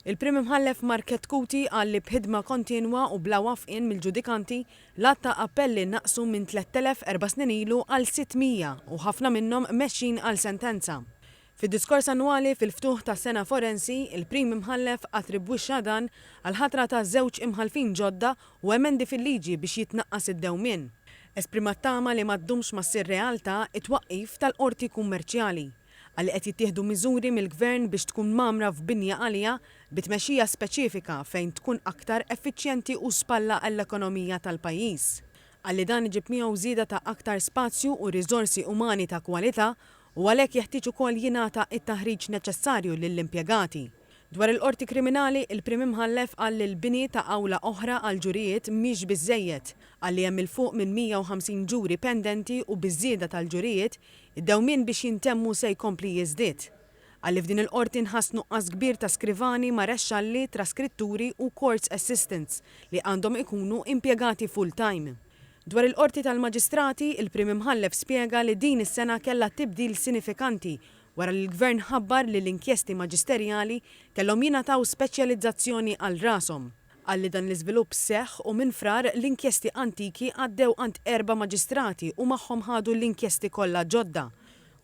Il-Prim Imħallef Markett Cuti qal li b'ħidma kontinwa u bla wafqien mill-ġudikanti, l-għadd ta' appelli naqsu minn 3,000 erba' snin ilu għal 600 u ħafna minnhom mexjin għal sentenza. Fid-diskors annwali fil-ftuħ tas-sena forensi, il-Prim Imħallef attribwixxa dan għall-ħatra ta' żewġ imħallfin ġodda u emendi fil-liġi biex jitnaqqas id-dewmien. Esprima t-tama li ma ddumx ma ssir realtà t-twaqqif tal-Qorti Kummerċjali. Qal li qed jittieħdu miżuri mill-Gvern biex tkun mgħammra f'binja għalija bi tmexxija speċifika fejn tkun aktar effiċjenti u spalla għall-ekonomija tal-pajjiż. Qal li dan iġib miegħu żieda ta' aktar spazju u riżorsi umani ta' kwalità u għalhekk jeħtieġ ukoll jingħata t-taħriġ neċessarju lill-impjegati. Dwar il-Qorti Kriminali, il-Prim Imħallef qal li l-bini ta' awla oħra għall-ġurijiet mhix biżżejjed. Qal li hemm 'il fuq minn 150 ġuri pendenti u biż-żieda tal-ġurijiet, id-dewmien biex jintemmu se jkompli jiżdied. Qal li f'din il-Qorti nħass nuqqas kbir ta' skrivani, marexxalli, traskritturi u courts assistants li għandhom ikunu impjegati full-time. Dwar il-Qorti tal-Maġistrati, il-Prim Imħallef spjega li din is-sena kellha tibdil sinifikanti wara li l-Gvern ħabbar li l-inkjesti maġisterjali kellhom jingħataw speċjalizzazzjoni għal rashom. Qal li dan l-iżvilupp seħħ u minn Frar l-inkjesti antiki għaddew għand erba' maġistrati u magħhom ħadu l-inkjesti kollha ġodda.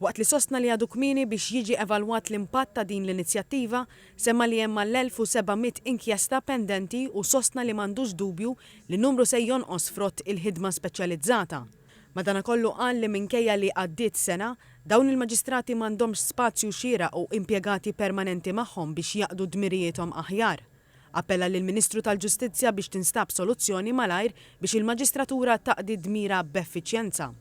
Waqt li sostna li għadu kmieni biex jiġi evalwat l-impatt ta' din l-inizjattiva, semma li hemm mal-1,700 inkjesta pendenti u sostna li m'għandux dubju li n-numru se jonqos frott il-ħidma speċjalizzata. Madanakollu qal li minkejja li għaddiet sena, dawn il-maġistrati m'għandhomx spazju xieraq u impjegati permanenti magħhom biex jaqdu dmirijiethom aħjar. Appella lill-Ministru tal-Ġustizzja biex tinstab soluzzjoni malajr biex il-maġistratura taqdi dmirha b'effiċjenza.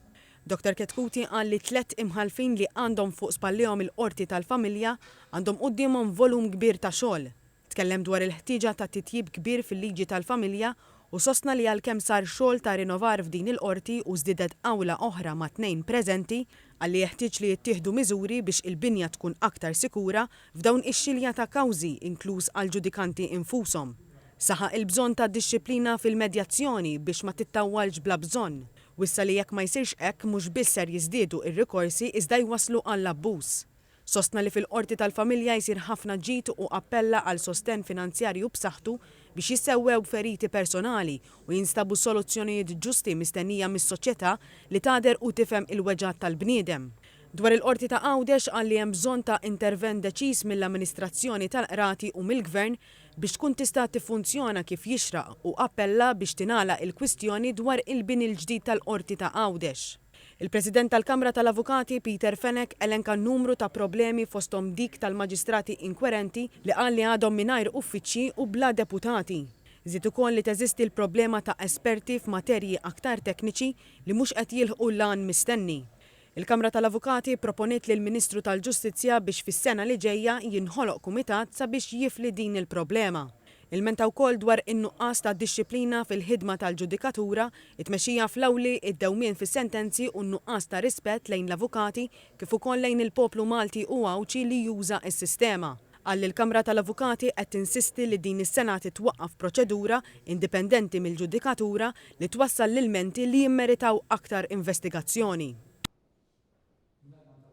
Dottor Chetcuti qal li t-tliet imħallfin li għandhom fuq spallihom il-Qorti tal-Familja għandhom quddiemhom volum kbir ta' xogħol. Tkellem dwar il-ħtieġa ta' titjib kbir fil-liġi tal-familja u sostna li għalkemm sar xogħol ta' rinovar f'din il-Qorti u żdiedet awla oħra ma' tnejn preżenti, qal li jeħtieġ li jittieħdu miżuri biex il-binja tkun aktar sikura f'dawn ix-xilja ta' kawżi inkluż għall-ġudikanti infushom. Saħaq il-bżonn ta' dixxiplina fil-medjazzjoni biex ma tittawwalx bla bżonn. Wissa li jekk ma jsirx hekk mhux biss ser jiżdiedu r-rikorsi iżda jwasslu għall-abbuż. Sostna li fil-Qorti tal-Familja jsir ħafna ġid u appella għal sostenn finanzjarju b'saħħtu biex jissewwew feriti personali u jinstabu soluzzjonijiet ġusti mistennija mis-soċjetà li tagħder u tifhem il-weġgħat tal-bniedem. Dwar il-Qorti ta' Għawdex qal li hemm bżonn ta' intervent deċiż mill-amministrazzjoni tal-Qrati u mill-Gvern biex tkun tista' tiffunzjona kif jixraq u appella biex tingħalaq il-kwistjoni dwar il-bini l-ġdid tal-Qorti ta' Għawdex. Il-President tal-Kamra tal-Avukati, Peter Fenech, elenka numru ta' problemi fosthom dik tal-maġistrati inkwerenti li qal li għadhom mingħajr uffiċċji u bla deputati. Żied ukoll li teżisti l-problema ta' esperti f'materji aktar tekniċi li mhux qed jilħqu l-għan mistenni. Il-Kamra tal-Avukati pproponiet lill-Ministru tal-Ġustizzja biex fis-sena li ġejja jinħoloq kumitat sabiex jifli din il-problema. Ilmenta wkoll dwar in-nuqqas ta' dixxiplina fil-ħidma tal-ġudikatura, it-tmexxija fl-awli, id-dewmien fis-sentenzi u n-nuqqas ta' rispett lejn l-avukati kif ukoll lejn il-poplu Malti u Għawdxi li juża s-sistema. Qal li l-Kamra tal-Avukati qed tinsisti li din is-sena titwaqqaf proċedura indipendenti mill-ġudikatura li twassal l-ilmenti li jimmeritaw aktar investigazzjoni.